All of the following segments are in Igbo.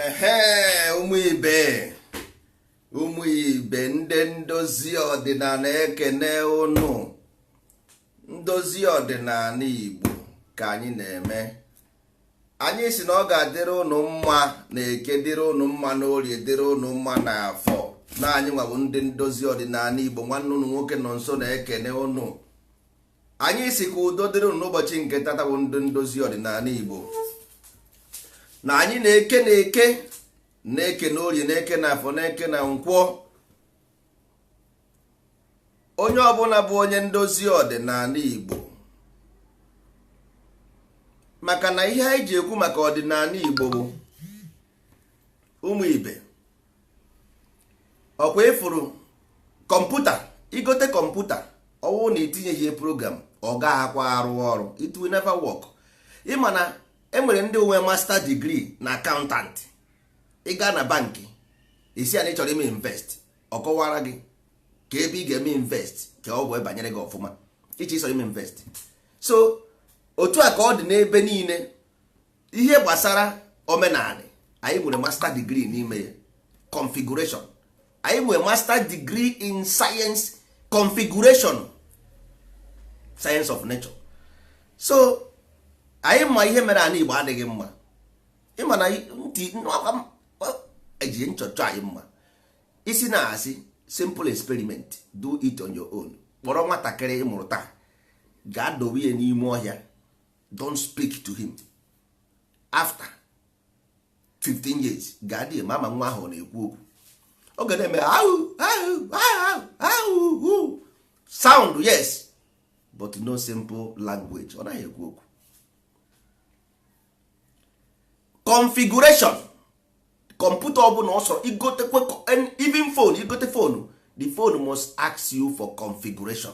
ehe ụmụ ibe ụmụ ibe ndị ndozi ọdịnala ekene ụnụ ndozi ọdịnala igbo ka anyị na-eme anyị si na ọ ga-adịrị ụnụ mma na eke dịrị ụnụ mma na orie dịrị ụnụ mma na afọ na anyị nwa bụ ndị ndozi ọdịnala igbo nwanne ụnụ nwoke Nọnso na-ekene ụnụ anyị si ka udo dịrị ụnụ n'ụbọchị nke tata bụ ndị ndozi ọdịnala Igbo na anyị na-eke na eke na-eke na orie na-eke na afọ na-eke na nkwọ onye ọbụla bụ onye ndozi ọdịnala Igbo maka na ihe anyị ji ekwu maka ọdịnala Igbo bụ ụmụ ibe ọkwa ịfụrụ kọmputa igote kọmputa ọwụrụ na itinyeghị ya program ọ gaghịkwa arụ ọrụ it will never work ịma na enwere ndị nwe master degree na accountant ị gaa na bankị ịsị ya na ịchọrọ ime invest ọ kọwaara gị ka ebe ị ga-eme invest ka ọ wee banyere gị ọfụma ihe ịchọrọ ime invest so otu a ka ọ dị n'ebe niile ihe gbasara omenala anyị nwere master degree n'ime ya configuration anyị nwere master degree in science configuration science of nature so anyị ma ihe mere ana igbo adịghị mma ịma na ntị eji nchọcha anyị mma ịsị na asị simple experiment do it on your own kpọrọ nwatakịrị ịmụrụ taa gaa dowe ya n'ime ọhịa don't speak to him after 15 years gaa dị ma ama nwa ahụ na-ekwu okwu ọ ga na-eme ahụ ahụ ahụ ahụ sound yes but no simple language ọ naghị ekwu okwu configuration kọmputa ọbụla ọsọ igotekwe even phone igote phone the phone must ask you for configuration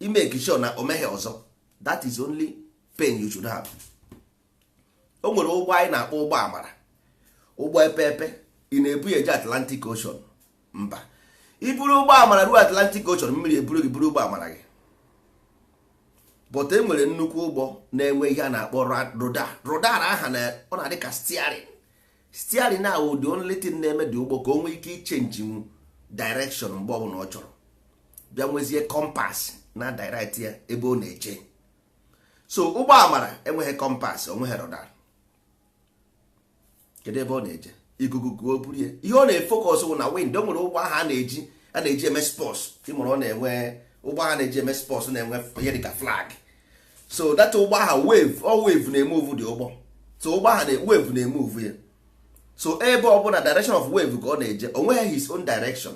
ị make sure na o meghị ọzọ that is only pain you should have o nwere ụgbọ anyị na-akpọ ụgbọ amara ụgbọ epeepe ị na-ebu ya eje Atlantic Ocean mba iburu ụgbọ amara ruo Atlantic Ocean mmiri eburu gị buru ụgbọ amara gị but e nwere nnukwu ụgbọ na-enwe ihe a na-akpọ rudder aha na ọ na-adị ka steering steering na the only thing na-eme dị ụgbọ ka o nwee ike ichenji nwu direction mgbe ọbụla ọ chọrọ bịa nwezie compass na-edirect ya ebe ọ na-eje so ụgbọ amara enweghị compass onweghị rudder kedu ebe ọ na-eje ikuku kuo o buru ya ihe ọ na-efocus bụ na wind o nwere ụgbọ ahụ a na-eji a na-eji eme sports ịmarọ ọ na-enwe ụgbọ ahụ na-eji eme sports na-enwe ihe dịka flag so that ụgbọ aha wave ọ wave na-emove the ụgbọ so ụgbọ aha wave na-emove ya so ebe ọ bụla direction of wave ka ọ na-eje o nweghị his own direction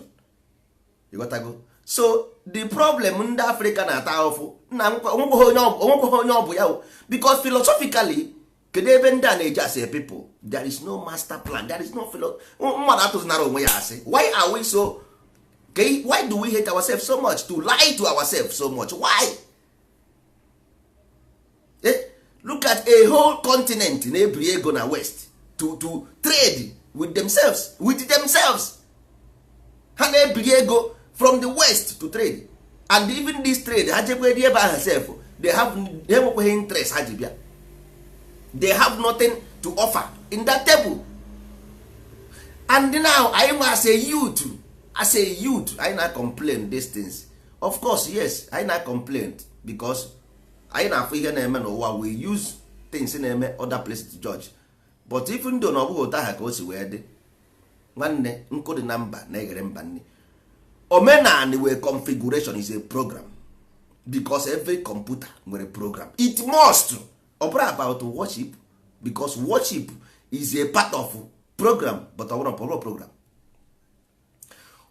ịghọtago so the problem ndị Africa na-ata ahụfụ na o nwekweghị onye ọ bụ ya because philosophically kedu ebe ndị a na-eje as a people there is no master plan there is no mmadụ atụzinara onwe ya asị why are we so why do we hate ourselves so much to lie to ourselves so much why? eh, look at a whole continent na-ebiri ego na west to, to trade with themselves with themselves ha na-ebiri ego from the west to trade and even this trade ha jekwa ebe ahụ sef they have they nwekweghị interest ha ji bịa they have nothing to offer in that table and now anyị nwa as a youth as a youth anyị na complain these things of course yes anyị na complain because anyị na-afụ ihe na-eme n'ụwa we use things na-eme other places to judge but even though na ọ bụghị otu aha ka o si wee dị nwanne nkụ dị na mba na-eghere mba nni omenani wụ a configuration is a program because every computer nwere program it must ọ bụrọ about worship because worship is a part of program but ọ bụrọ program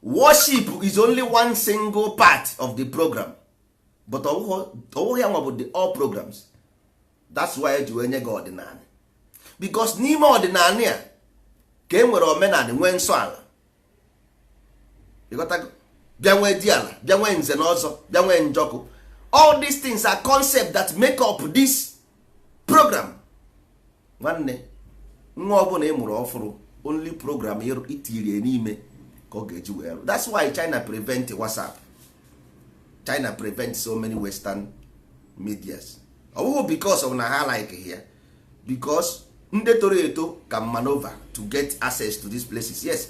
worship is only one single part of the program but ọ wụghị ya nwa bụ the all programs that's why e ji wee nye gị ọdịnala because n'ime ọdịnala ya ka e nwere omenala nwee nsọ ala bịa nwee diala bịa nwee nze na ọzọ bịa nwee njọkụ all these things are concept that make up this program nwanne nwa ọ bụla ị mụrụ ọfụrụ only program itirie n'ime ka ọ ga-eji wee rụ that's why China prevent WhatsApp China prevent so many western medias ọ bụghị because of na ha like ya because ndị toro eto can maneuver to get access to these places yes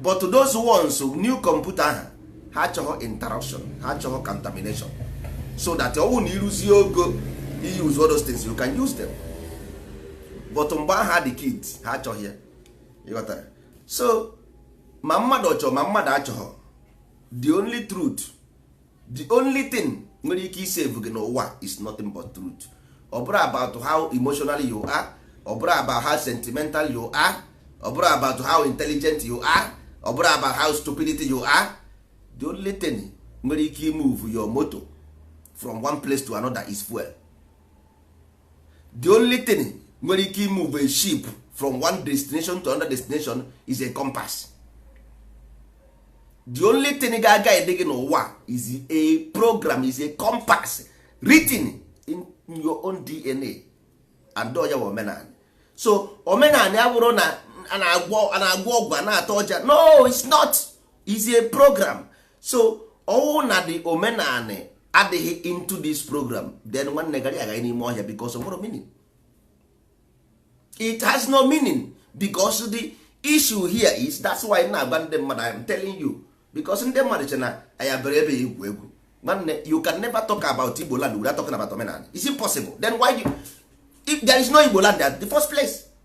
but those ones new computer aha ha chọghị interruption ha chọghị contamination so that ọ bụrụ na i ruzie ogo you use all those things you can use them but mgbe aha dị kid ha achọghị ya ịghọtara so ma mmadụ ọ chọ ma mmadụ achọghọ the only truth the only thing nwere ike isave gị n'ụwa is nothing but truth ọ bụrọ about how emotional you are ọ bụrọ about how sentimental you are ọ bụrọ about how intelligent you are ọ bụrọ about how stupidity you are the only thing nwere ike imove your motor from one place to another is fuel the only thing nwere ike imove a ship from one destination to another destination is a compass the only thing ga-aguide gị n'ụwa is a program is a compass written in your own dna and ọ ya wụ omenala so omenala abụrọ na a na-agwọ ọgwụ a na-ata ọja no it's not is a program so ọ wụ na the omenala adịghị into this program then nwanne ga-agagharị n'ime ọhịa because of no meaning it has no meaning because the issue here is that's why na-agwa ndị mmadụ I am telling you because ndị mmadụ che na anyị bịara ebe a igwu egwu nwanne you can never talk about Igbo land without talking about omenala is it possible then why you, if there is no Igbo land at the first place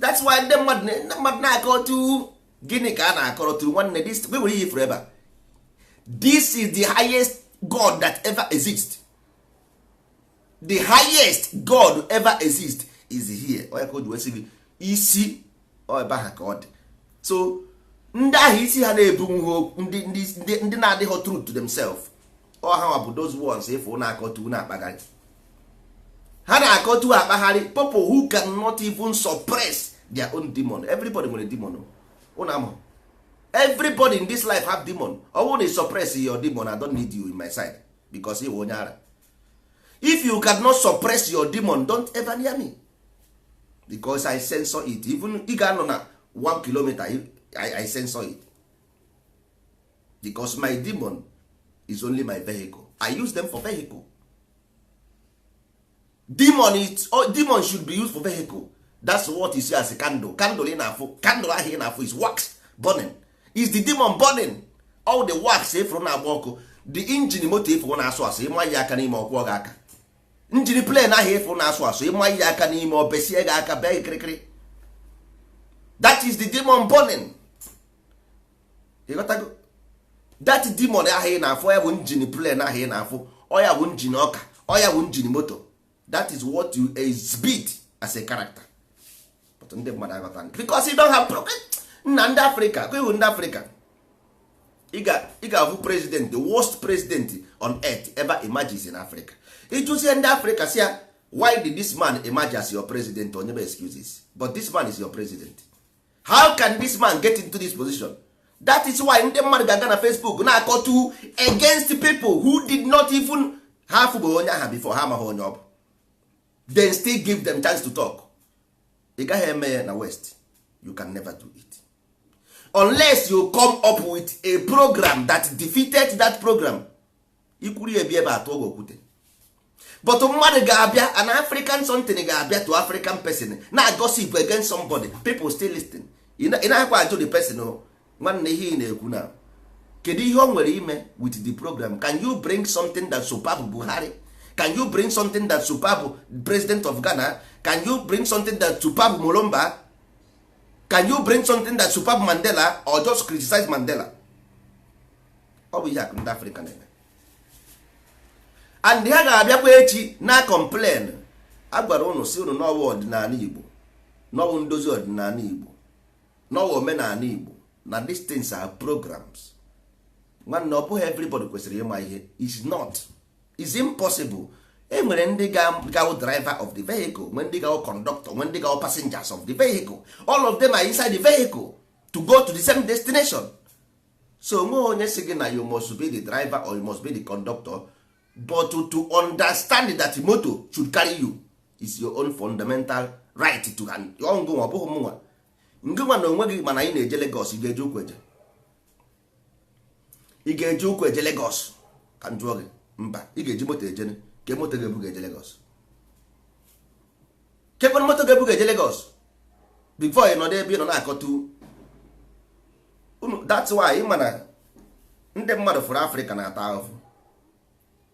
that's why ndị mmadụ ndị mmadụ na-akọtụ gịnị ka a na-akọrọtụ nwanne this we nwere ihe ị fụrụ ebe a this is the highest god that ever exist the highest god ever exist is here ọ ya ka o ji wee sị gị isi ebe ahụ ka ọ dị so ndị ahụ isi ha na-ebunwu ndị ndị na-adịghị true to themselves ọ ha bụ those ones ị fụ na-akọtụ na-akpagharị ha na-akọtu akpagharị people who cannot even suppress their own demon everybody nwere demon ụnụ ama everybody in this life have demon ọ bụrụ na ị suppress your demon I don't need you in my side because ịwụ onye ara if you cannot suppress your demon don't ever near me because I censor it even ị ga-anọ na 1 kilometer I, I censor it because my demon is only my vehicle i use them for vehicle demon is oh, demon should be used for vehicle that's what you see as a candle candle ị na-afụ candle ahụ ị na-afụ is wax burning is the demon burning all the wax ị fụrụ na-agba ọkụ the engine moto ị fụrụ na-asụ asụ ị manye aka n'ime ọ kwọọ gị aka engine plane ahụ ị fụrụ na-asụ asụ ị manye aka n'ime o besie gị aka bee gị kirikiri that is the demon burning ị ghọtago that demon ahụ ị na-afụ ya bụ engine plane ahụ ị na-afụ ọ ya bụ engine ọka ọ ya bụ engine moto that is what you exhibit as a character but ndị mmadụ aghọta because you don't have nna ndị africa kwewu ndị africa ị ga-afụ president the worst president on earth ever emerges in africa ị jụzie ndị africa sị ya why did this man emerge as your president o nyebe excuses but this man is your president how can this man get into this position that is why ndị mmadụ ga-aga na Facebook na-akọtụ against people who did not even ha afụbeghị onye aha before ha amaghị onye ọ bụ then still give them chance to talk ị gaghị eme ya na west you can never do it unless you come up with a program that defeated that program ikwuru ebi ebe atụ oge okwute but mmadụ ga-abịa an african something ga-abịa to african person na gossip against somebody people still listen ị na-akwa ajụ the person o nwanne ihe ị na-ekwu na kedu ihe o nwere ime with the program can you bring something that superb buhari can you bring something that superb president of ghana can you bring something that superb molomba can you bring something that superb mandela or just criticize mandela ọ bụ ihe a ka ndị afrịka na-eme and ha ga-abịakwa echi na-complain a gwara ụnụ sị ụnụ n'ọ wụghị ọdịnala igbo n'ọ wụ ndozi ọdịnala igbo n'ọ wụghị omenala igbo na these things are programs nwanne ọ bụghị everybody kwesịrị ịma ihe is not is impossible e nwere ndị ga-awụ driver of the vehicle nwee ndị ga-awụ conductor nwee ndị ga-awụ passengers of the vehicle all of them are inside the vehicle to go to the same destination so o nweghị onye sị gị na you must be the driver or you must be the conductor but to, to understand that moto should carry you is your own fundamental right to have ngị nwa ọ bụghị mụnwa ngị nwa na onwe gị ma na anyị na-eje Lagos ị ga-eji ụkwụ eje ị ga-eji ụkwụ eje Lagos ka m jụọ gị mba ị ga-eji moto eje ke moto ga-ebu gị eje Lagos kekwanụ moto ga-ebu gị eje Lagos before ị nọdụ ebe ị nọ na-akọtọ that's why ị ma na ndị mmadụ fụrụ afrịka na-ata ahụhụ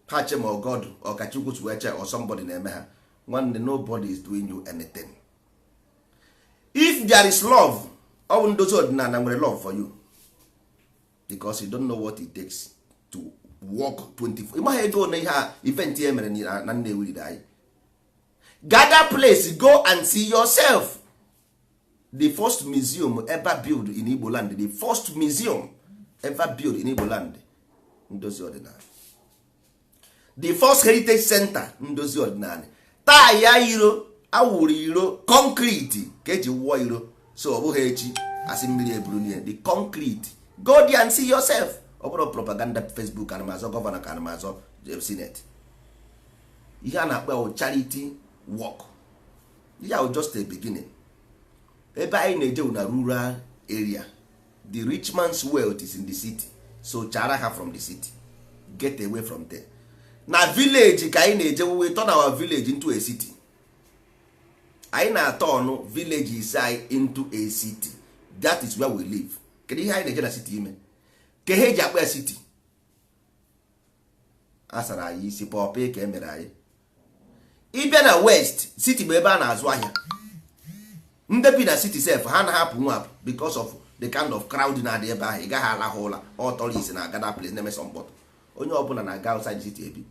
ha chee ma ọ god ọ ka chukwu si wee chee or somebody na-eme ha nwanne nobody is doing you anything if there is love ọ bụ ndozi ọdịnala nwere love for you because you don't know what it takes to work 24 ị maghị ego na ihe a event e mere na Nnewi riri anyị go that place go and see yourself the first museum ever build in Igbo land the first museum ever build in Igbo land ndozi ọdịnala the first heritage center ndozi ọdịnala taa ya iro a wụrụ iro concrete ka e ji wụọ iro so ọ bụghị echi a sị mmiri eburu n'ihe the concrete go there and see yourself ọ bụrọ propaganda Facebook ka ana m azọ governor ka ana m azọ eh, senate ihe a na-akpọ charity work ihe a bụ just a beginning ebe anyị na-eje wụ na rural area the rich man's wealth is in the city so chara ha from the city get away from there na village ka anyị na-eje we turn our village into a city anyị na-aturn villages anyị into a city that is where we live kedu ihe anyị na-eje na city ime ke ihe e ji akpọ ya city a sara anyị isi puppet ka e mere anyị ịbịa na west city bụ ebe a na-azụ ahịa ndị bi na city sef ha na-ahapụ nwapụ because of the kind of crowd na-adị ebe ahụ ị gaghị alahụ ụla ọ tourists na-aga that place na-eme sọ mkpọtụ onye ọbụla na-aga outside city ebi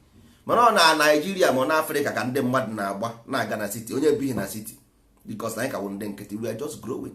mana ọ na naijiria ma ọ na afrịka ka ndị mmadụ na-agba na-aga na city onye bighị na city because na anyị ka wụ ndị nkịtị we are just growing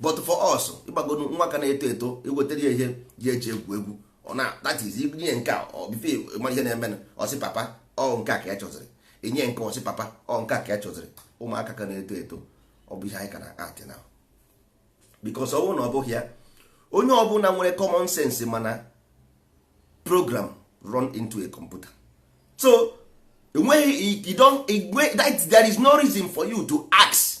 but for us ịgbago nwa ka na-eto eto i wetara ya ihe eji egwu egwu ọ na that is inye nke a before ị ma ihe na-eme ọ sị papa ọ nke a ka ya chọziri inye nke ọ sị papa ọ nke a ka ya chọziri ụmụaka ka na-eto eto ọ bụ ihe anyị ka na-atị now because ọ bụrụ na ọ bụghị ya onye ọbụla nwere common sense ma na program run into a computer so enweghị you don't there is no reason for you to ask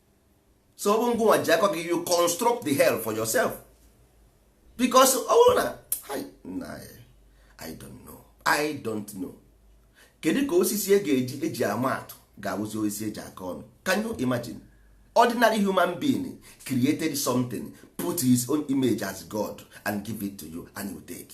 so ọ bụ ngụnwa ji aka gị you construct the hell for yourself because ọ bụrụ na I don't know I don't know kedu ka osisi e ga-eji eji ama atụ ga-awụzi osisi eji akọ ọnụ can you imagine ordinary human being created something put his own image as God and give it to you and you take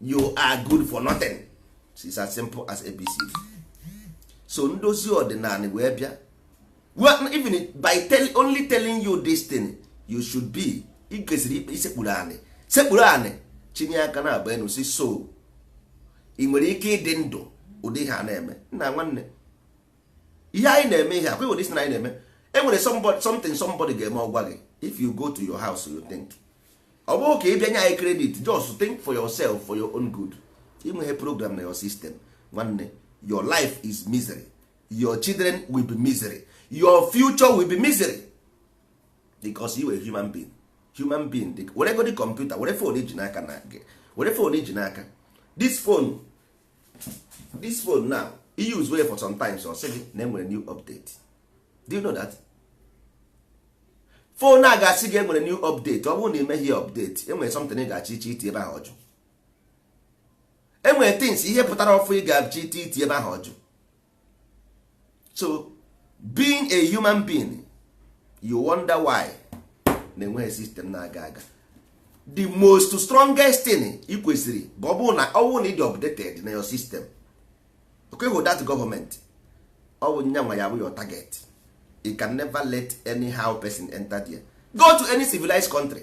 you are good for nothing it's as simple as abc so ndozi ọdịnala wee bịa well, even by tell, only telling you this thing you should be ị kwesịrị ikpe isekpuru anị sekpuru anị chinie aka naabọ enu sị so ị nwere ike ịdị ndụ ụdị ihe a na-eme nna nwanne ihe anyị na-eme ihe akwa ụdị si na anyị na-eme e nwere something somebody ga-eme ọ gwa gị if you go to your house you think ọ bụrụ ka ị bịa nye anyị credit just think for yourself for your own good i nweghị program na your system nwanne your life is misery your children will be misery your future will be misery because you are human being human being dị were godi computer were phone i ji n'aka na were phone i ji n'aka this phone this phone now i usewe for sometimes ọ sị gị na enwere new update do you know that phone a ga-asị gị enwere new update ọ bụrụ na i meghị update enwere something ị ga-achọ iche iti ebe ahụ ọ jụ enwere things ihe pụtara ọfụ ị ga-achọ iti iti ebe ahụ ọ jụ so being a human being you wonder why na-enweghị system na-aga aga the most strongest thing ị kwesịrị bụ ọ bụrụ na ọ bụrụ na ị dị updated na your system okay with that government ọ bụ nya nwa ya bụ your target you can never let anyhow person enter there go to any civilized country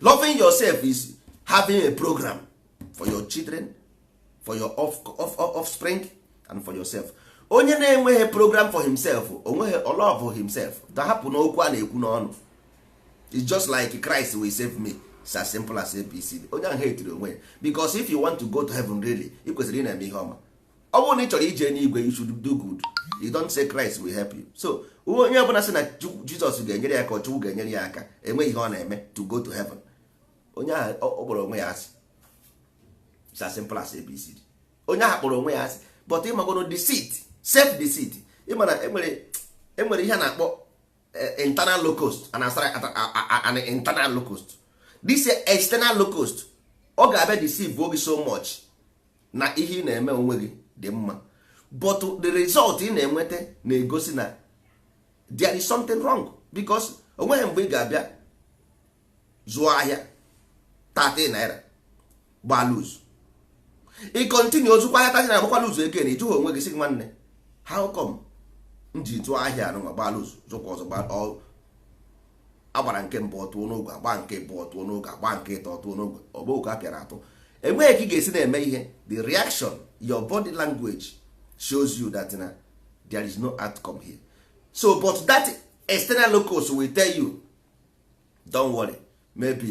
loving yourself is having a program for your children for your offspring and for yourself onye na-enweghị program for himself o nweghị ọ love himself ta hapụ n'okwu a na-ekwu n'ọnụ it's just like Christ will save me it's as simple as ABC onye ahụ hateri onwe ya because if you want to go to heaven really ị kwesịrị ịna-eme ihe ọma ọ bụrụ na ị chọrọ ije n'igwe you should do good you don't say Christ will help you so onye ọbụla sị na Jizọs ga-enyere ya aka ọ Chukwu ga-enyere ya aka enweghị ihe ọ na-eme to go to heaven onye ahụ ọ kpọrọ onwe ya asị it's as simple as abcd onye ahụ kpọrọ onwe ya asị but ịmagoro deceit self deceit ịma na enwere e e ihe a na-akpọ e, internal locust and an internal locust this external locust ọ ga-abịa deceive-o gị so much na ihe ị na-eme onwe gị dị mma but the result ị na-enweta na-egosi na there is something wrong because onweghị mgbe ị ga-abịa zụọ ahịa 30 naira gbaa lose ị continue-o zụkwa ahịa 30 naira gbakwa lose again ị jụghị onwe gị sị nwanne how come m ji zụọ ahịa anụnwa gbaa lose zụkwa ọzọ gbaa agbara nke mbụ ọ tụọ n'ogwe agbaa nke ịbụọ ọ tụọ n'ogwe agbaa nke ịtọ ọ tụọ n'ogwe ọ bụ ogwe ka a pịara atụ enweghị ka ị ga-esi na-eme ihe the reaction your body language shows you that na there is no outcome here so but that external locus will tell you don't worry maybe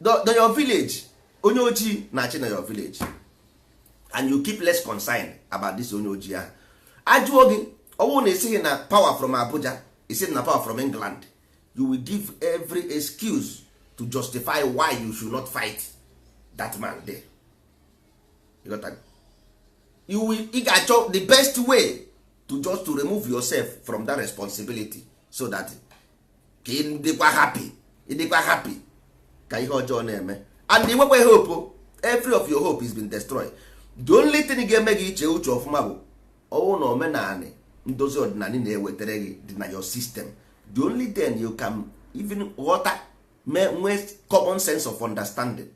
na your village onye ojii na-achị na your village and you keep less concern about this onye ojii ahụ ajụọ gị ọwụrụ na ị sịghị na power from Abuja ị sị na power from England you will give every excuse to justify why you should not fight that man there. You got that? You will, ị ga-achọ the best way to just to remove yourself from that responsibility so that ka ị dịkwa happy ịdịkwa happy ka ihe ọjọọ na-eme and inwekweghị hope every of your hope is been destroyed the only thing ga-eme gị iche uche ọfụma bụ ọwụrụ na omenanị ndozi ọdịnala na-ewetara gị dị na your system the only then you can even ghọta mee nwee common sense of understanding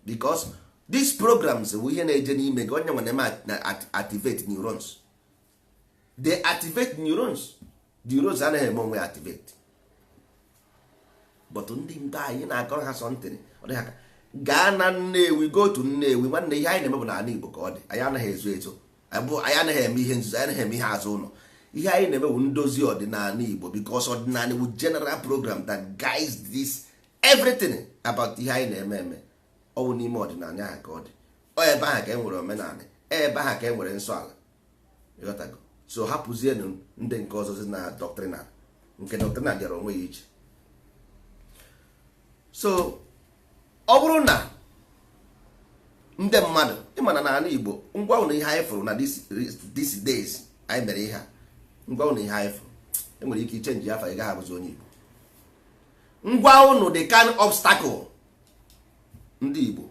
because these programs bụ ihe na-eje n'ime gị ọ ya nwa na-eme activate neurons they activate neurons the neurons anaghị eme onwe activate but ndị mba anyị na-akọrọ ha something ọ dị ha ka gaa na nnewi go to nnewi nwanne ihe anyị na-eme bụ n'ala igbo ka ọ dị anyị anaghị ezo ezo anyị anaghị eme ihe nzuzo anyị anaghị eme ihe azụ ụlọ ihe anyị na-eme bụ ndozi ọdịnala igbo because ọdịnala bụ general program that guides this everything about ihe anyị na-eme eme ọ bụ n'ime ọdịnala ahụ ka ọ dị ọ ebe ahụ ka e nwere omenala ebe ahụ ka e nwere nsọ ala so hapụzienụ ndị nke ọzọ si na doctrinal nke doctrinal dịara onwe ya iche so ọ bụrụ na ndị mmadụ ịma na na ala Igbo m gwa ụnụ ihe anyị fụrụ na these days anyị mere ihe a m gwa ụnụ ihe anyị fụrụ enwere ike ichenji afa ị gaghị abụzi onye Igbo m gwa ụnụ the kind obstacle ndị Igbo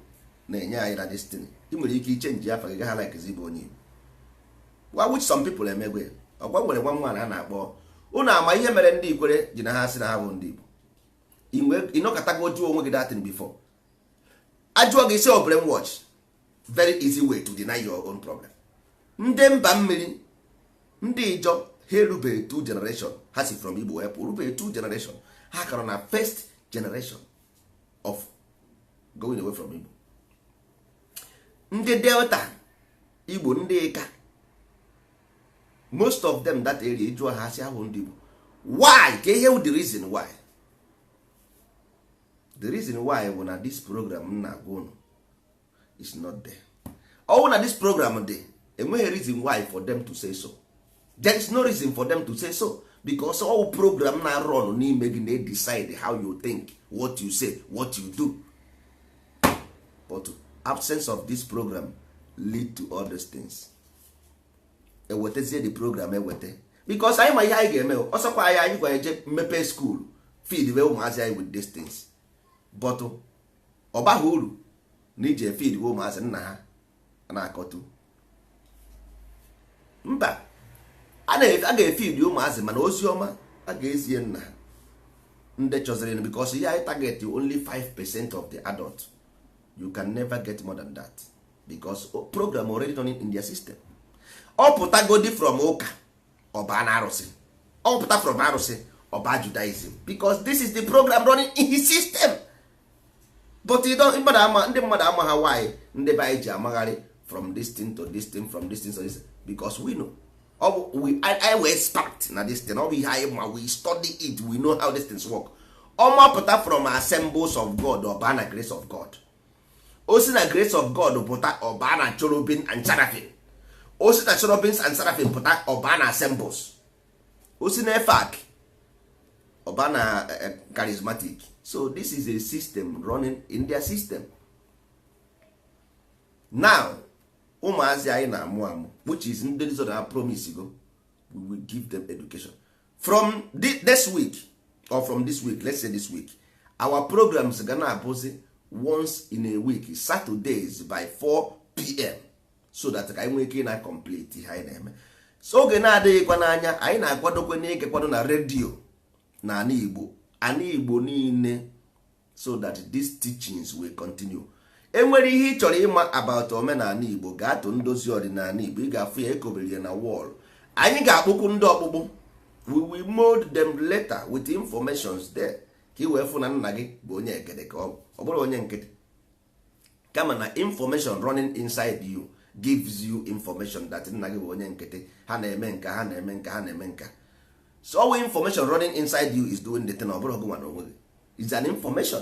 na-enye anyị na destiny ị nwere ike ichenji afa gị ghara ilikezi ịbụ onye Igbo wa which some people emegwo ugbua nwere nwa nwaanyị a na-akpọ ụnụ ama ihe mere ndị Ikwere ji na ha sị na ha abụ ndị Igbo ị nọkatago jụọ onwe gị that thing before a jụọ gị ị sị ọ brainwash very easy way to deny your own problem ndị mba mmiri ndị Ịjọ ha erubeghị two generation ha si from Igbo wepụ rubeghị two generation ha ka nọ na first generation of going away from Igbo ndị Delta Igbo ndị Ika most of them that area ị jụọ ha asị ha awụ ndị Igbo why ka ihe the reason why the reason why bụ na this program m na-agwa unu is not there ọ wụ na this program dị enweghị reason why for them to say so there is no reason for them to say so because ọ wụ program na-arun n'ime gị na decide how you think what you say what you do but absence of this program lead to all these things e wetazie the program eweta because anyị ma ihe anyị ga-eme ọ sọkwa anyị anyị ga-eje mepee school feediwe ụmụazị anyị with these things but ọ baghị uru na ị je efeediwe ụmụazị nna ha na-akọtu mba a ga-efeed ụmụazị mana ozi ọma a ga-ezie nna ha ndị chọziri because ihe anyị target only 5 percent of the adult you can never get more than that because program already running in their system ọ pụtagodi from ụka ọ baa na arụsị ọ pụta from arụsị ọ baa Judaism because this is the program running in his system but ndị mmadụ amaha why ndị be anyị ji amagharị from this thing to this thing from this thing to this thing because we know ọ bụ we I we expect na this thing ọ bụ ihe anyị ma we study it we know how these things work ọ mapụta from Assemblies of God ọ baa na Grace of God o si na Grace of God pụta ọ baa na Cherubim and Seraphim o si na Cherubim and Seraphim pụta ọ baa na Assemblies o si na EFAC ọ baa na eh, eh, charismatic so this is a system running in their system now ụmụazị anyị na-amụ amụ which is ndị zọrọ ha promisego we will give them education from this week or from this week let's say this week our programs ga na-abụzi once in a week saturdays by 4 pm so that ka anyị nwee ike na complete ihe anyị na-eme so oge na-adịghịkwa n'anya anyị na-akwadokwe n'ike kwado na redio na ana Igbo ana Igbo niile so that these teachings will continue enwere ihe ị chọrọ ịma about omenala igbo gaa to ndozi ọdịnala igbo ị ga-afụ ya ekobere ya na wall anyị ga-akpụkwu ndị ọkpụkpụ we will mold them later with informations there ka ị wee fụ na nna gị bụ onye egede ka ọ bụrọ onye nkịtị kama na information running inside you gives you information that nna gị bụ onye nkịtị ha na-eme nka ha na-eme nka ha na-eme nka so all information running inside you is doing the thing ọ bụrọ gị nwa na onwe gị is an information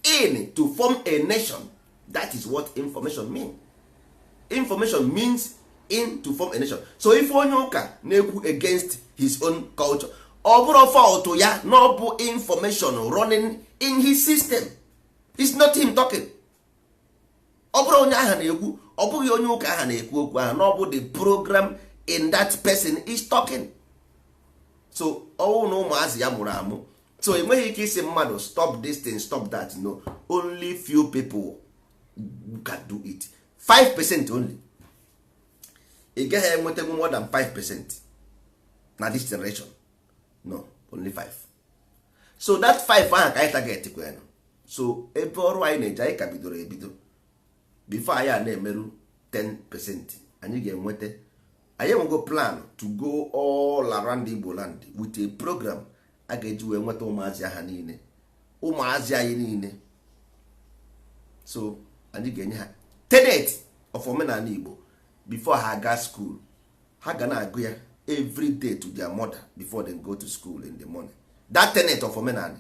in to form a nation that is what information mean information means in to form a nation so if onye ụka na-ekwu against his own culture ọ bụrọ fault ya na ọ bụ information running in his system is not him talking ọ bụrọ onye aha na-ekwu ọ bụghị onye ụka aha na-ekwu okwu ahụ na ọ bụ the program in that person is talking so ọwụ na ụmụazị ya mụrụ amụ so ị nweghị ike ịsị mmadụ stop this thing stop that no only few people can do it 5 percent only ị gaghị enwetanwu more than 5 percent na this generation no only 5 so that 5 ahụ ka anyị target kwenụ so ebe ọrụ anyị na-eje anyị ka bidoro ebido before anyị a na-emeru 10 percent anyị ga-enweta anyị enwego plan to go all around Igbo land with a program a ga-eji wee nweta ụmụazị ha niile ụmụazị anyị niile so anyị ga-enye ha tenet of omenala Igbo before ha aga school ha ga na-agụ ya every day to their mother before they go to school in the morning that tenet of omenala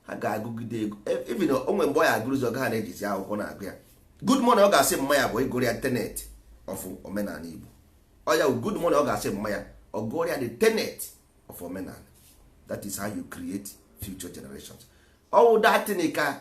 ha ga-agụgide ego e, even o nwee mgbe ọ ya agụrụzi ọ gaha na-ejizi akwụkwọ na-agụ ya good morning ọ ga-asị mma ya bụ ịgụrụ ya tenet of omenala Igbo ọ ya good morning ọ ga-asị mma ya ọ gụrụ ya the tenet of omenala that is how you create future generations ọwụ that thing ka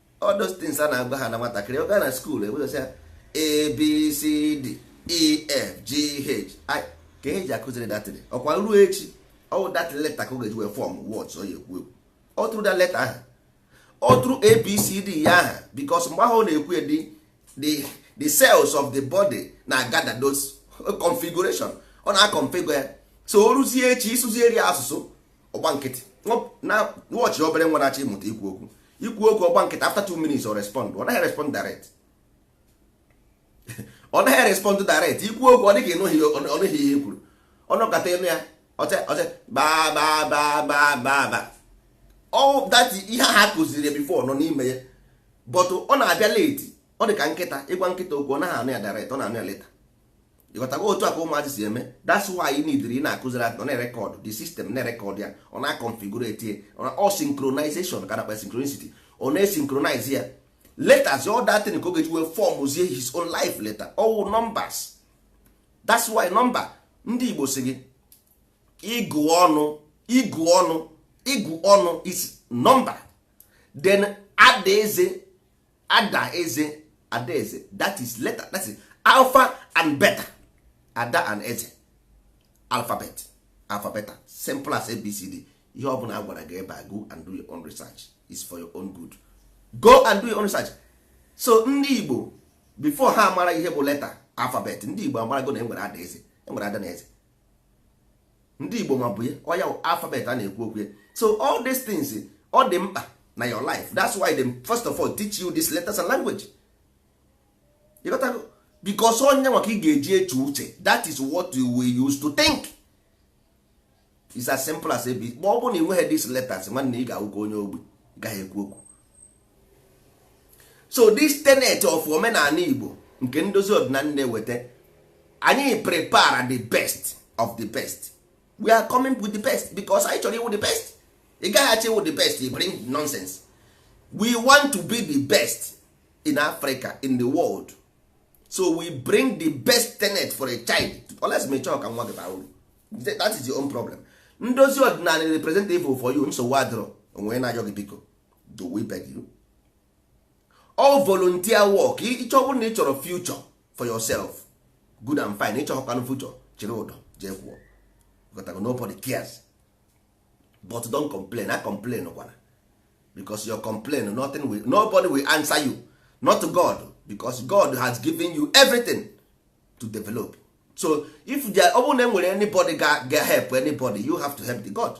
all those things a na-agwa ha na nwatakịrị ọ gaa na school ewegosi ya abcd ef g h i ka e ji akụziri that thing ọkwa ruo echi ọwụ that letter ka ọ ga-eji wee form words ọ ya ekwu ekwu ọ through that letter ahụ ọ through abcd ya aha because mgbe ahụ ọ na-ekwu ya the the cells of the body na gather those configuration ọ na-configure ya so o ruzie echi ịsụzieri ya asụsụ ọ gba nkịtị na watch obere nwa na-achọ ịmụta ikwu okwu i kwuo okwu ọ gba nkịtị after two minutes ọ respond ọ naghị respond direct ọ naghị respond direct i kwuo okwu ọ dị ka ọ nụghị ihe e kwuru ọ nọkata ị nụ ya ọche ọche bababababa all that ihe ha kụziri before nọ n'ime ya but ọ na-abịa late ọ dị ka nkịta ị gwa nkịta okwu ọ naghị anụ ya direct ọ na-anụ ya later ịghọtago otu a ka ụmụazị si eme that's why you need ị na-akụziri ya ọ na-erecord the system na-erecord ya ọ na-aconfigurate ya ọ synchronization ka a na-akpọ synchronicity ọ na-esynchronize ya letters all that thing ka ọ ga-eji wee formzie his own life letter ọ wụ numbers that's why number ndị Igbo sị gị ịgụ ọnụ ịgụ ọnụ ịgụ ọnụ is number then adaeze ada eze ada eze that is letter that is alpha and beta ada and eze alphabet alpha beta simple as abcd ihe ọ bụla a gwara gị ebe a go and do your own research is for your own good go and do your own research so ndị igbo before ha mara ihe bụ letter alphabet ndị igbo amarago na e nwere ada eze e nwere ada na eze ndị igbo ma bụ ya ọ ya wụ alphabet a na-ekwu okwu ya so all these things ọ dị mkpa na your life that's why they first of all teach you this letters and language you got to because ọ ya nwa ka ị ga-eji eche uche that is what you will use to think is as simple as ab ma ọ bụrụ na ị nweghị these letters nwanne ị ga-awụ ka onye ogbi gaghị ekwu okwu so this tenet of omenala igbo nke ndozi ọdịnala na-eweta anyị prepare the best of the best we are coming with the best because anyị chọrọ ịwụ the best ị gaghị achọ ịwụ the best you bring nonsense we want to be the best in africa in the world so we bring the best tenet for a child unless ma ị chọọ ka nwa gị bara uru that is your own problem ndozi ọdịnala representative for you nsogbu adịrọ onwe na-ayọ gị biko do we beg you all volunteer work ịchọ bụrụ na ị chọrọ future for yourself good and fine ịchọkwanụ future chịrị ụdọ jee kwuo gotago nobody cares but don complain a complain kwana because your complain nothing will, nobody will answer you not God because God has given you everything to develop so if there ọ bụrụ na enwere anybody ga ga help anybody you have to help the God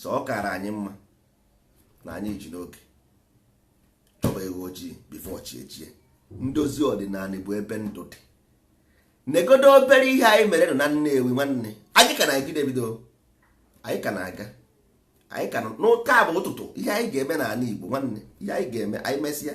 so ọ kara anyị mma na anyị ji n'oge chọba ewu ojii before chi ejie ndozi ọdịnala bụ ebe ndụ dị negodo obere ihe anyị mere nọ na Nnewi nwanne anyị ka na-ebido ebido anyị ka na-aga anyị ka na nke a bụ ụtụtụ ihe anyị ga-eme n'ala Igbo nwanne ihe anyị ga-eme anyị mesịa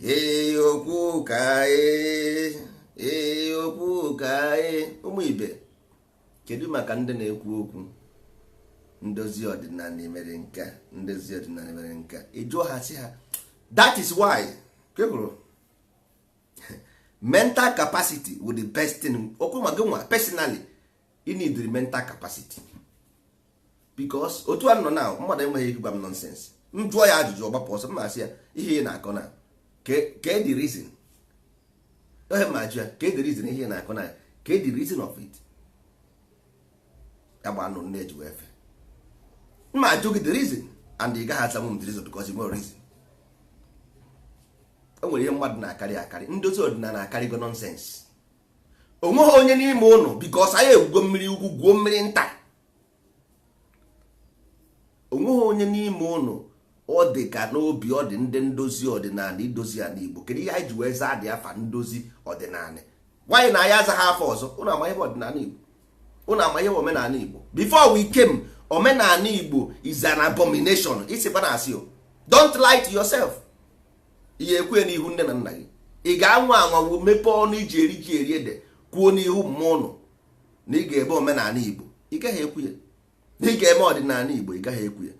ee okwu ka ee ee okwu ka ee ụmụ ibe kedu maka ndị na-ekwu okwu ndozi ọdịnala mere nke a ndozi ọdịnala mere nke a ị jụọ ha sị ha that is why people mental capacity with the best thing ọ kwa ma gị nwa personally you need the mental capacity because otu a nọ na mmadụ enweghị ike gwa m nonsense m jụọ ya ajụjụ ọ gbapụ ọsọ m na-asị ya ihe ị na-akọ na kee the reason ọ ihe m ma ajụ ya kee the reason ihe ị na-akọ na kee the reason of it agba anụ nne eji wee fe m ma ajụ gị the reason and ị gaghị asanwu m the reason because i nwerọ reason o nwere ihe mmadụ na-akarị akarị ndozi ọdịnala akarịgo nonsense onweghị onye n'ime ụnụ because anyị egwugo mmiri ukwu gwuo mmiri nta onweghị onye n'ime ụnụ ọ dị ka n'obi ọ dị ndị ndozi ọdịnala idozi ala igbo kedu ihe anyị ji wee zaa dị afa ndozi ọdịnala why na anyị azaghị afa ọzọ ụnụ ama ihe ọdịnala igbo ụnụ ama ihe omenala igbo before we came omenala igbo is an abomination isikwana asị o don't lie to yourself ihe e kwue n'ihu nne na nna gị ị ga-anwa anwa gị mepee ọnụ iji eri ji eri ede kwuo n'ihu mmụọ ụnụ na ị ga-eme omenala igbo ị gaghị ekwu ya na ị ga-eme ọdịnala igbo ị gaghị ekwu ya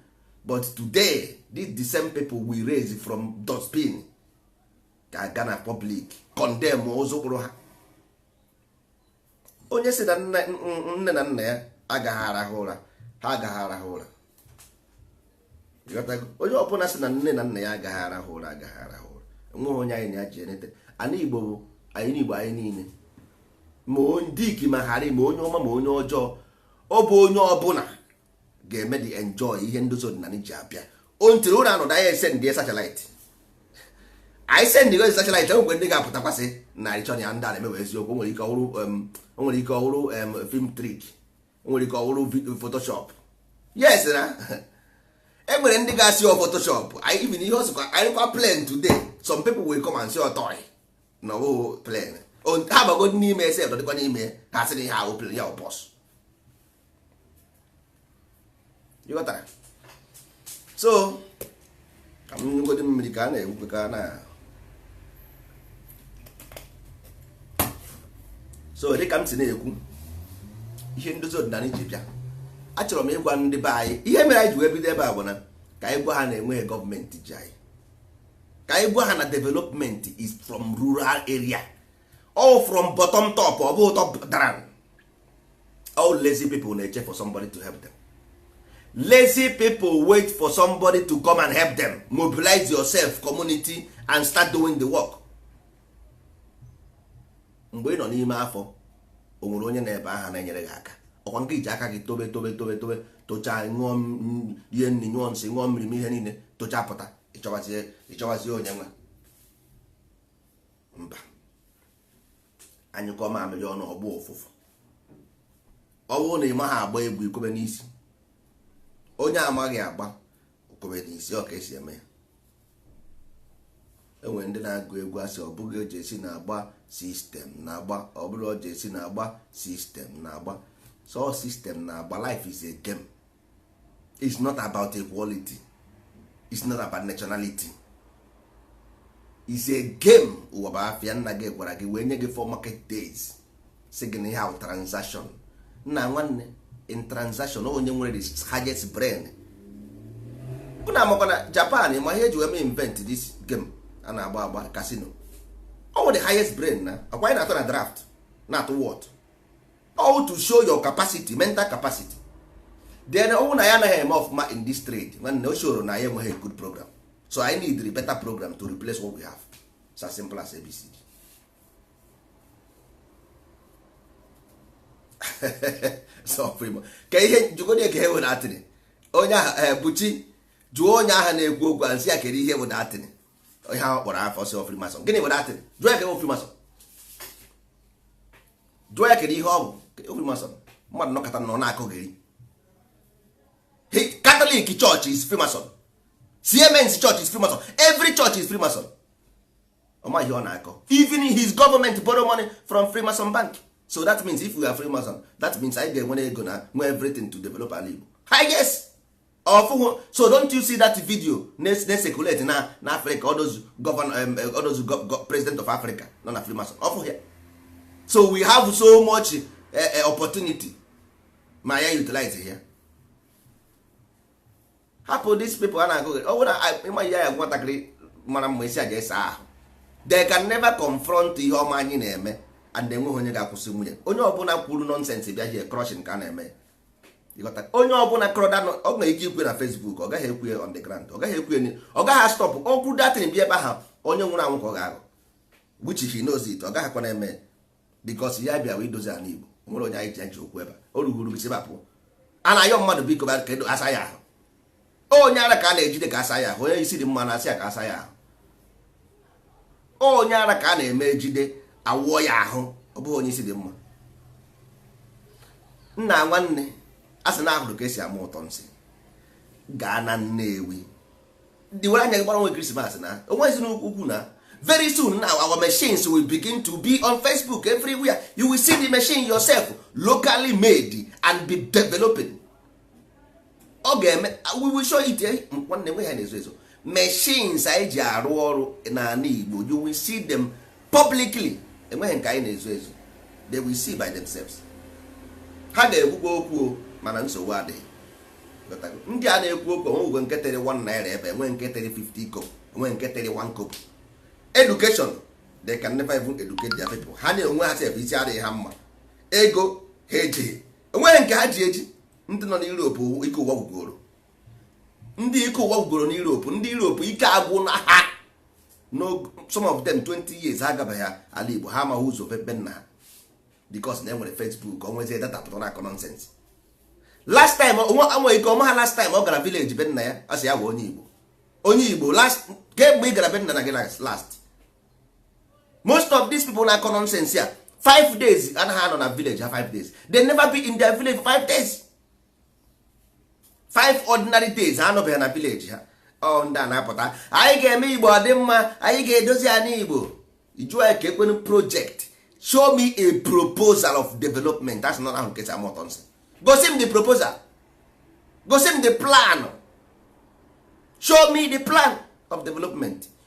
but today these the same people we raise from dustbin ga-aga na public condemn ụzụ kpụrụ ha onye si na nne na nna ya agaghị arahụ ụra ha agaghị arahụ ụra onye ọbụla si na nne na nna ya agaghị arahụ ụra agaghị arahụ ụra enweghị onye anyị na-aji enete ana igbo bụ anyị n'igbo anyị niile ma dick ma harry ma onye ọma ma onye ọjọọ ọ bụ onye ọbụla ga-emedị enjoy ihe ndozi ọdịnala ji bịa until ụra anọdụ anyị esend satellite anyị send gozi satellite enwekwa ndị ga-apụtakwa sị na ịchọ ya ndị a na-emewe eziokwu nwere ike ọ bụrụ nwere ike ọ bụrụ film trick nwere ike ọ bụrụ photoshop yes na e nwere ndị ga-asị ọ photoshop even ihe ọsụkwa anyị kwa plane today some people will come and say ọ toy na ọbụghị plane ha bagodu n'ime ese dọdịkwa n'ime ha sị na ihe ahụ plane ya ọ bus ịghọtara so ka m ṅụgodi mmiri ka a na-ekwukwa ka a na so dịka m si na-ekwu ihe ndozi ọdịnala ji bịa achọrọ m ịgwa ndị be anyị ihe mere anyị ji wee bido ebe a bụ na ka anyị gwa ha na enweghị government ji anyị ka anyị gwa ha na development is from rural area or from bottom top ọ bụghị top down all lazy people na-eche for somebody to help them lazy people wait for somebody to come and help them mobilize yourself community and start doing the work mgbe ị nọ n'ime afọ o nwere onye nọ ebe ahụ na-enyere gị aka ọkwa nke iji aka gị tobe tobe tobe tobe tochaa ṅụọ ihe nri nyụọ nsị ṅụọ mmiri ma ihe niile tochaa pụta ịchọwazie onye nwe mba anyụkọọ mamịrị ọnụ ọ gbọọ ụfụfụ ọ bụrụ na ị maghị agba egwu i kwebe n'isi onye amaghị agba o kwebe n'isi ọ ka esi eme ya enwere ndị na-agụ egwu asị ọ bụghị o ji isi na-agba system na-agba ọ bụrụ o ji isi na-agba system na-agba so system na-agba life is a game it's not about equality it's not about nationality is a game ụwa bụ afịa nna gị gwara gị wee nye gị four market days sị gị na ihe ahụ transaction nna nwanne in transaction onye nwere the highest brain bụ na amakwa na japan ma ihe e ji wee mee invent this game a na-agba agba casino ọ wụ the highest brain na okwe anyị na-atụ na draft na-atụ whot all to show your capacity mental capacity then ọ wụ na ya anaghị eme ọfụma in this trade nwanne o shoro na ya enweghị good program so I need a better program to replace what we have it's as simple as abcd ka ihe jugodi ka ihe were atịrị onye ahụ eh, buchi jụọ onye ahụ na-ekwu okwu a sị ya kere ihe bụ that thing ihe ahụ kpọrọ afa sị Freemason gịnị were atịrị jụọ ya ka Freemason jụọ ya kedu ihe ọ bụ Freemason mmadụ nọkata nọ na-akọgheri Catholic church is Freemason CMS church is Freemason every church is Freemason ọ maghị ihe ọ na-akọ even his government borrow money from Freemason bank so that means if we are Freemason that means anyị ga-enwere ego na-enwe everything to develop ala Igbo hi yes ọ fụhụ so don't you see that video na-ecirculate na na Africa all those governor all those president of Africa nọ na Freemason ọ fụhụ ya so we have so much eh, eh, opportunity ma ya utilize ya hapụ these people a na-agụghị ọ bụrụ ịma ihe ya nwatakịrị mara mma ị sị ya jee saa ahụ they can never confront ihe ọma anyị na-eme and enweghị onye ga-akwụsịnwu anyị onye ọbụla kwuru nonsense bịa here crushing ka a na-eme onye ọbụla kọrọ da ọ nwere ike ikwu na Facebook ọ gaghị ekwu on the ground ọ gaghị ekwu ọ gaghị stop okwu that thing bịa ebe ahụ onye nwụrụ anwụ ka ọ ga-aghọ which he knows it ọ gaghịkwa na-eme because ya bịa wee dozi ala Igbo enweghị onye anyị ji ụgwọ ebe o rughuru gị si ebe a pụ a na-ayọ mmadụ biko ka a saa ya ahụ onye ara ka a na-ejide ka a saa ya ahụ onye isi dị mma a na-asị ya ka a saa ya ahụ onye ara ka a na-eme ejide a wụọ ya ahụ ọ bụghị onye isi dị mma nna nwanne a sị na a hụrụ ka e si ama ụtọ nsị gaa na Nnewi ndị were anya gị gbara nwe Christmas na onwezi n'ukwu na very soon now our machines will begin to be on facebook everywhere you will see the machine yourself locally made and be developing ọ ga-eme we will show it eh? nwanne enweghị ihe a na-ezo ezo machines anyị ji arụ ọrụ n'ala Igbo you will see them publicly enweghị nke anyị na-ezo ezo they will see by themselves ha ga-ekwukwa okwu mana nsogbu adịghị ndị a na-ekwu okwu o nweghị nke tinyere 1 naira ebe a enweghị nke tinyere 50 kobo enweghị nke tinyere 1 kobo education they can never even educate their people ha na onwe ha sef isi adịghị ha mma ego ha ejighị enweghị nke ha ji eji ndị nọ n'Europe ike ụwa gwụgoro ndị ike ụwa gwụgoro n'Europe ndị Europe ike agwụna ha some of them 20 years ha agabeghị ala Igbo ha amaghị ụzọ be nna ha because na enwere Facebook onwezie data pụta na-akọ nonsense last time onwe ike ọ maha last time ọ gara village be nna ya a sị ya bụ onye Igbo onye Igbo last kemgbe ị gara be nna nna gị last most of these people na-akọ nonsense ya five days anaghị anọ na village ha five days they never be in their village five days five ordinary days ha anọbeghị na village ha ọ ndị a na-apụta anyị ga-eme igbo ọ dị mma anyị ga-edozi ya n'igbo jụọ ya ke kwanụ project show me a proposal of development that's not ahụ nkesa mọtọ nsị gosi m the proposal gosi m the plan show me the plan of development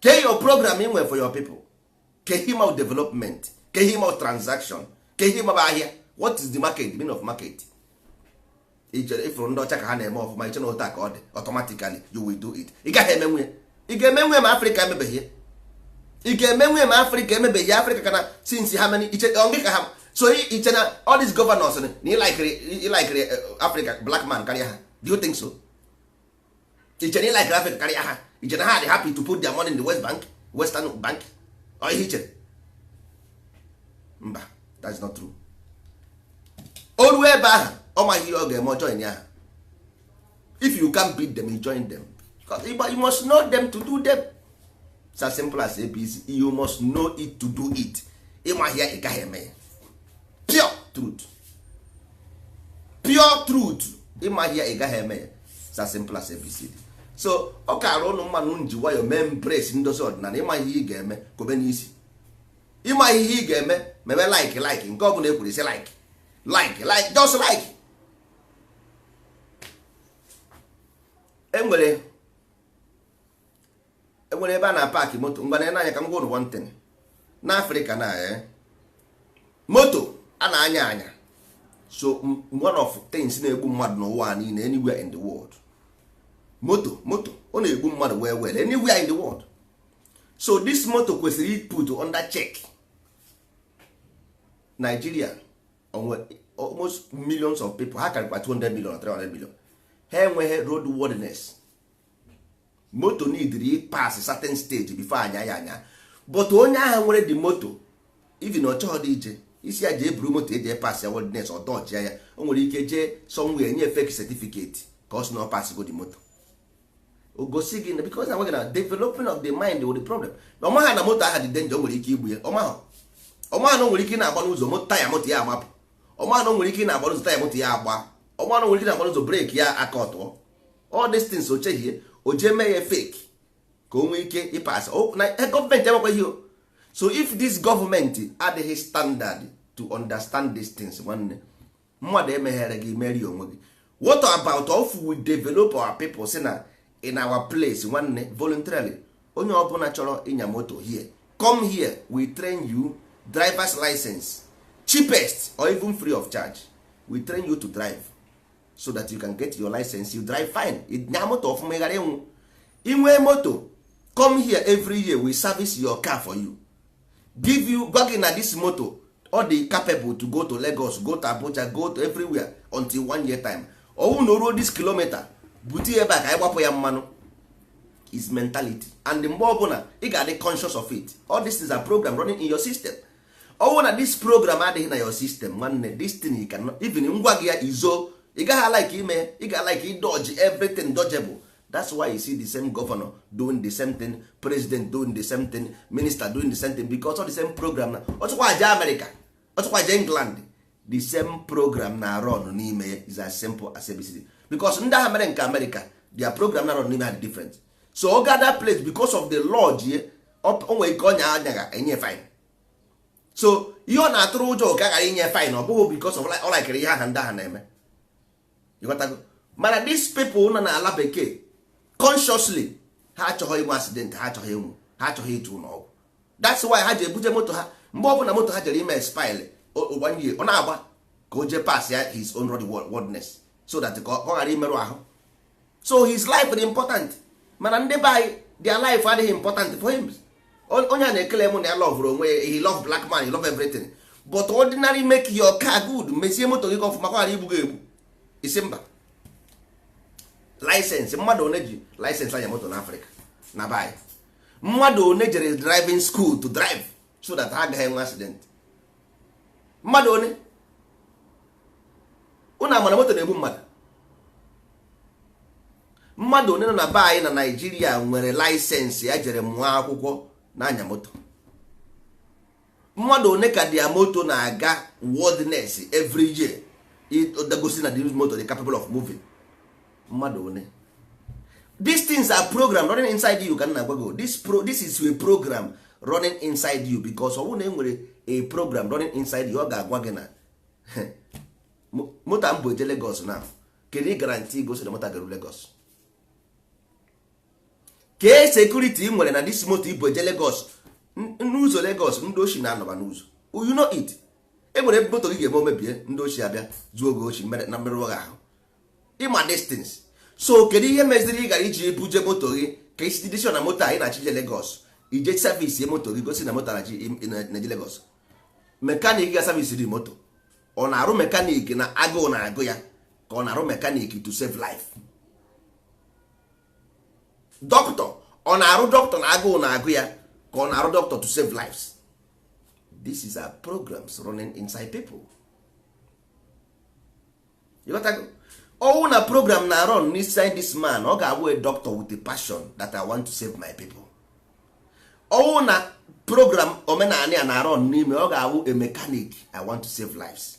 ke your program ị nwere for your people ke ihe ịma bụ development ke ihe ịma bụ transaction ke ihe ịma bụ ahịa what is the market the meaning of market ichere ifụrụ ndị ọcha ka ha na-eme ọfụma iche na otu a ka ọ dị automatically you will do it ị gaghị emenwe ya ị ga-emenwe ma afrịka emebeghị ya ị ga-emenwe ma afrịka emebeghị ya afrịka ka na since how many iche ọ gị ka ha so i- iche na all these governors na ịlaikiri ịlaikiri afrịka black man karịa ha do you think so iche na ị like Africa karịa ha iche na ha dị happy to put their money in the West Bank Western Bank ọ ihe ichere mba that's not true o ruo ebe ahụ ọ maghị ihe ọ ga-eme ọ join ya if you can't beat them you join them because you must know them to do them it's as simple as abc you must know it to do it ịmaghị ya ị gaghị eme ya pure truth pure truth ịmaghị ya ị gaghị eme ya it's as simple as abcd so ọ kaara ụnụ mma ụnụ eji nwayọ mee embrace ndozi ọdịnala ịma ihe ị ga-eme kobe n'isi ịma ihe ị ga-eme mebe like like nke ọ bụla ekwuru sị like like like just like enwere enwere ebe a na park moto ngwa na anya ka m gwa ụnụ one thing na afrịka na eh, moto a na-anya anya so m- one of things na-egbu mmadụ n'ụwa a niile anywhere in the world moto moto ọ na-egbu mmadụ well well anywhere in the world so this moto kwesịrị iput under check Nigeria almost millions of people ha karịkwa 200 million or 300 million ha enweghị road worthiness moto nidiri ịpas certain stage before anya ya anya but onye ahụ nwere the moto even ọ chọghị dị ije ị sị ya jee buru moto e jee pas ya worthiness ọ dọjia ya o nwere ike jee somewhere nye fake certificate ka ọ sị na ọ pasgo the moto o gosi gị na because na nweghị na developing of the mind wụ the problem na ọmaha na moto aha dị danger o nwere ike igbu ya ọmaha ọmaha na o nwere ike na-agba n'ụzọ moto taya moto ya agbapụ ọmaha na o nwere ike na-agba n'ụzọ taya moto ya agba ọmaha na o nwere ike na-agba n'ụzọ breki ya aka ọtụọ all these things o chehie o jee mee ya fake ka o nwee ike ịpas na e, gọọmenti enwekwaghị o so if this government adịghị standard to understand these things nwanne mmadụ emeghere gị meere onwe gị what about if we develop our people sị na in our place nwanne voluntarily onye ọbụla chọrọ ịnya moto here come here we train you driver's license cheapest or even free of charge we train you to drive so that you can get your license you drive fine nya moto ọfụma ị ghara ịnwụ i nwee moto come here every year we service your car for you give you gwa gị na this moto ọ dị capable to go to Lagos go to Abuja go to everywhere until one year time ọ wụ na o ruo this kilometer bute ebe a ka anyị gbapụ ya mmanụ is mentality and mgbe ọbụla ị ga-adị conscious of it all this is a program running in your system ọ wụrụ na this program adịghị na your system nwanne this thing you cannot even m gwa gị ya izo ị gaghị alike ime ị ga alike idodge everything dodgeable that's why you see the same governor doing the same thing president doing the same thing minister doing the same thing because of the same program na ọ chịkwa aja America ọ chịkwa aja England the same program na-arun n'ime ya is as simple as ABCD because ndị ahụ mere nke America their program na-arun n'ime ha dị different so ọ ga that place because of the law ji ye o nwee ike ọ nya anya enye fine so ihe ọ na-atụrụ ụjọ ka ghara inye fine ọ bụghị because of ọ likere ihe aha ndị ahụ na-eme ị ghọtago mana these people nọ n'ala bekee consciously ha achọghị inwe accident ha achọghị ịnwụ ha achọghị ịtọ n'ụlọ ọgwụ that's why ha ji ebuje moto ha mgbe ọ bụla moto ha jere ime spil ụgbanye ọ na-agba ka o jee pas ya his own roadworthiness so that ka ọ ghara imerụ ahụ so his life dị important mana ndị be anyị their life adịghị important for him onye a na-ekele m na ya lọvụrụ onwe ya he love black man he love everything but ordinary make your car good mezie moto gị ka ọfụma ka ghara igbu gị egbu isi mba laịsensị mmadụ one ji laịsensị anya moto n'Afrịka na be anyị mmadụ one jere driving school to drive so that ha agaghị enwe accident mmadụ one ụnụ amara moto na-egbu mmadụ mmadụ one nọ na be anyị na Naịjirịa nwere laịsensị ya jere mụọ akwụkwọ na-anya moto mmadụ one ka their moto na-aga worthiness every year gosi na the moto dị capable of moving mmadụ one these things are program running inside you ka m na-agwa gị this, pro, this is a program running inside you because ọ bụrụ na e nwere a program running inside you ọ ga-agwa gị na moto m bu eje Lagos na kedu guarantee gosi na moto ga-eru Lagos kee security ị nwere na this moto i bu eje Lagos n'ụzọ Lagos ndị oshi na-anọba n'ụzọ you know it e nwere ebe moto gị ga-eme o mebie ndị oshi abịa zuo gị oshi na mmerụ ahụ ị ma distance so kedu ihe meziri ị gara iji buje moto gị ka isi decision na moto anyị na-achị je Lagos i jee service moto gị gosi na moto na-eje Lagos mechanic ga-service the moto ọ na-arụ mechanic na agụụ na-agụ ya ka ọ na-arụ mechanic to save life doctor ọ na-arụ doctor na agụụ na-agụ ya ka ọ na-arụ doctor to save lives these are programs running inside people ọ wụ na program na-run n'inside this man ọ ga-awụ a doctor with a passion that I want to save my people ọ wụ na program omenala na-run n'ime ọ ga-awụ a mechanic I want to save lives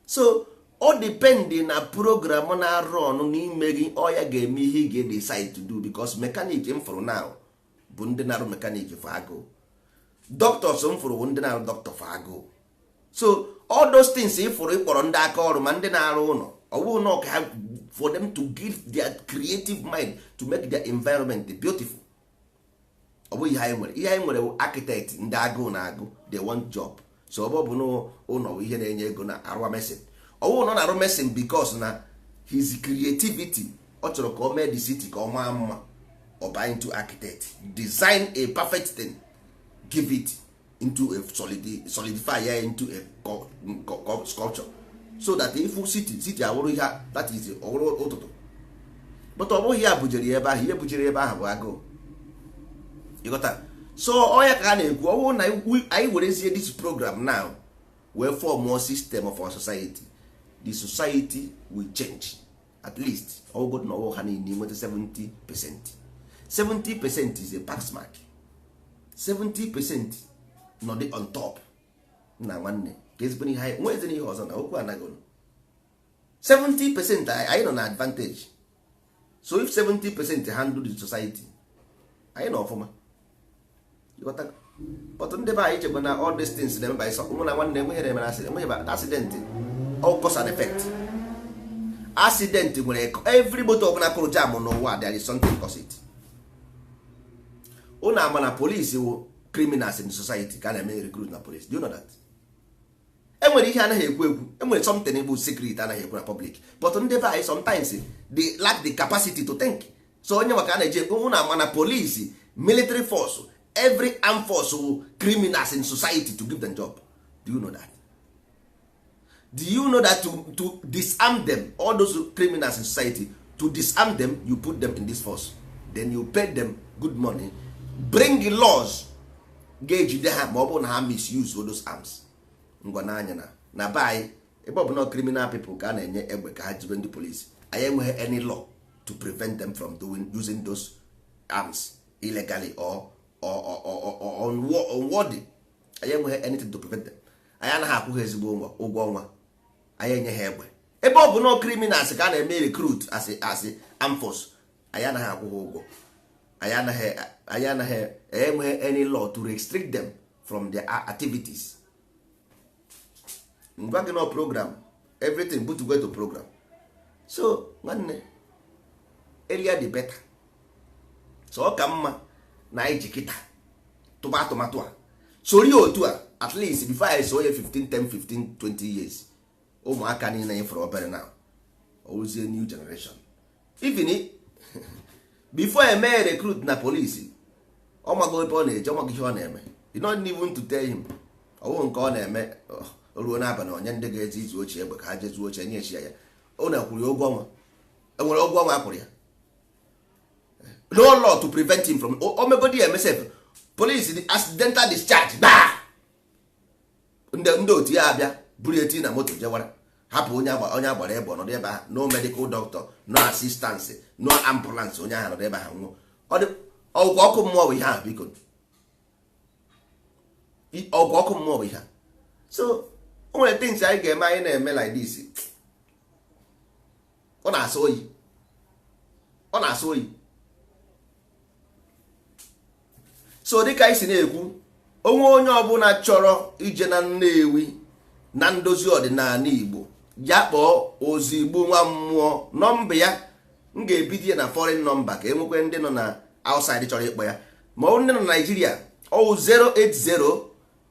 so ọ dependị na program na-run n'ime gị ọ ya ga-eme ihe ị ga-decide to do because mechanic m fụrụ now bụ ndị na-arụ mechanic for agụụ doctors m fụrụ bụ ndị na-arụ doctor for agụụ so all those things ị fụrụ ị kpọrọ ndị aka ọrụ ma ndị na-arụ ụlọ ọ bụghị na ọka for them to give their creative mind to make their environment beautiful ọ bụghị ihe anyị nwere ihe anyị nwere bụ architect ndị agụụ na-agụ they want job so ọ bụ na ụlọ bụ ihe na-enye ego na-arụwa mason ọ wụrụ na ọ na-arụ mason because na his creativity ọ chọrọ ka o mee the city ka ọ maa mma ọ baa into architect design a perfect thing give it into a solidify ya into a sculpture so that ị fụ city city awụrụ ihe that is ọ wụrụ ụtụtụ but ọ bụghị ya bujere ya ebe ahụ ihe bujere ebe ahụ bụ agụụ ị ghọta so ọ ya ka a na-ekwu ọ bụrụ na anyị werezie this program now wee formụọ system of our society the society will change at least ọ wụgodu na ọ wụ ha niile nweta 70 percent 70 percent is a pass mark 70 percent nọdị on top nna nwanne ka ezigbo ihe anyị nwee ihe ọzọ na okwu anaghị 70 percent anyị nọ na advantage so if 70 percent handle the society anyị nọ ọfụma but ndị be anyị echekwa na all these things na-eme by mụ na nwanne enweghị na-eme enweghị accident all cause and effect accident nwere every motor ọbụla kụrụ jam n'ụwa there is something cause it unu ama na police wụ criminals in society ka a na-eme recruit na police do you know that? enwere ihe anaghị ekwu ekwu enwere something bụ secret anaghị ekwu na public but ndị be anyị sometimes they lack the capacity to think so onye maka a na-eji ekwu na mana police military force every armed force wụ criminals in society to give them job do you know that do you know that to, to disarm them all those criminals in society to disarm them you put them in this force then you pay them good money bring laws ga-ejide ha ma ọ bụrụ na ha misuse those arms ngwa na anyị na na be anyị ebe ọ bụ na criminal people ka a na-enye egbe ka ha jibe ndị police anyị enweghị any law to prevent them from doing using those arms illegally or or or or or unwo- unworthy anyị enweghị anything to prevent them anyị anaghị akwụ ha ezigbo ụgwọ ụgwọ ọnwa anyị enye ha egbe ebe ọ bụ na criminals ka a na-eme recruit as a- as a armed force anyị anaghị akwụ ha ụgwọ anyị anaghị anyị enweghị any law to restrict them from their activities ngwa gị na program everything but go to program so nwanne earlier the better so ọ ka mma na anyị ji kịta tụba atụmatụ a sori otu a at least before a sị nye 15 10 15 20 years ụmụaka niile anyị fụrụ obere na ozie new generation even before e mee recruit na police ọ mago ebe ọ na-eje ọ mago ihe ọ na-eme you don't need to tell him ọ bụghị nke ọ na-eme o ruo n'abalị o nye ndị ga-eje izu oshi egbe ka ha je zuo oshi nyechi ya ya ọ na-akwụrụ ya ụgwọ ọnwa o nwere ụgwọ ọnwa akwụrụ ya no law to prevent him from o megodi eme sef police accidental discharge gbaa ndị otu ya abịa buru ya tie na moto jewara hapụ onye onye agbara egbe ọ nọdụ ebe ahụ no medical doctor no assistance no ambulance onye ahụ nọdụ ebe ahụ nwụọ ọ wụkwa ọkụ mmụọ bụ ihe ahụ biko ọ wụkwa ọkụ mmụọ bụ ihe a so o nwere things anyị ga-eme anyị na-eme like this ọ na-asọ oyi ọ na-asọ oyi so dịka anyị si na-ekwu o nwee onye ọbụla chọrọ ije na Nnewi na ndozi ọdịnanị Igbo ya kpọọ ozigbo nwa mmụọ nọmba ya m ga-ebido ya na foreign number ka e nwekwe ndị nọ na outside chọrọ ịkpọ ya ma ọ wụ ndị nọ na Naịjirịa ọwụ 080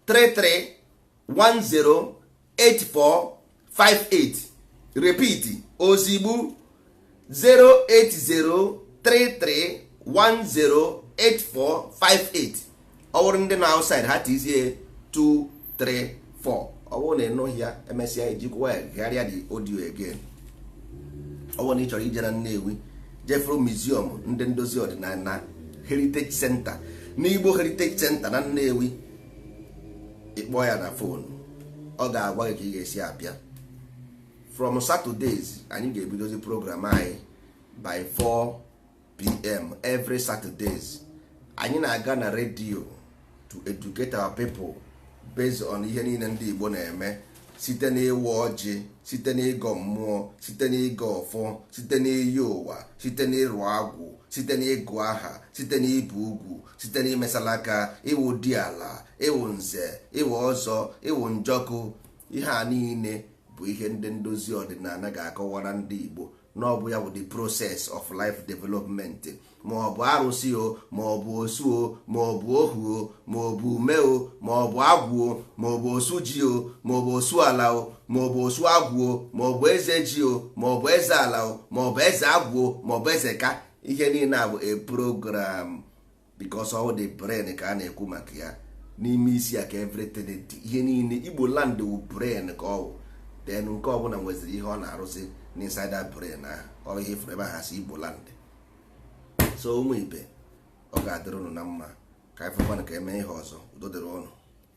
33108458 repeat ozigbo 08033108458 ọ bụrụ ndị na outside ha tizie 234 ọ bụrụ na ịnụghị ya emesịa ijikwa ya gharịa the audio again ọ bụrụ na ị chọrọ ije na Nnewi jefuru museum ndị ndozi ọdịnala na heritage center n'igbo heritage center na nnewi ị kpọọ ya na phone ọ ga-agwa gị ka ị ga-esi abịa from saturdays anyị ga-ebidozi program anyị by 4 pm every saturdays anyị na-aga na redio to educate our people based on ihe niile ndị Igbo na-eme site n'ịwa ọjị site n'ịgọ mmụọ site n'ịgọ ọfọ site n'iyi ụwa site n'ịrụ agwụ site n'ịgụ aha site n'ibi ugwu site n'imesala aka ịwụ diala ịwụ nze ịwụ ọzọ ịwụ njọkụ ihe a niile bụ ihe ndị ndozi ọdịnala ga-akọwara ndị Igbo na ọ bụ ya bụ the process of life development ma ọ bụ arụsị o ma ọ bụ osu o ma ọ bụ ohu o ma ọ bụ ume o ma ọ bụ agwụ o ma ọ bụ osu ji o ma ọ bụ osu ala o ma ọ bụ osu agwụ o ma ọ bụ eze ji o ma ọ bụ eze ala o ma ọ bụ eze agwụ o ma ọ bụ eze ka ihe niile a bụ a program because all the brain ka a na-ekwu maka ya n'ime isi ya ka everything dị ihe niile igbo land wụ brain ka ọ wụ then nke ọbụla nweziri ihe ọ na-arụzị n'inside that brain ahụ ọ ihe fụrụ ebe ha si igbo land so ụmụ ibe ọ ga-adịrị unu na mma ka anyị fụkwanụ ka e mee ihe ọzọ udo dịrị unu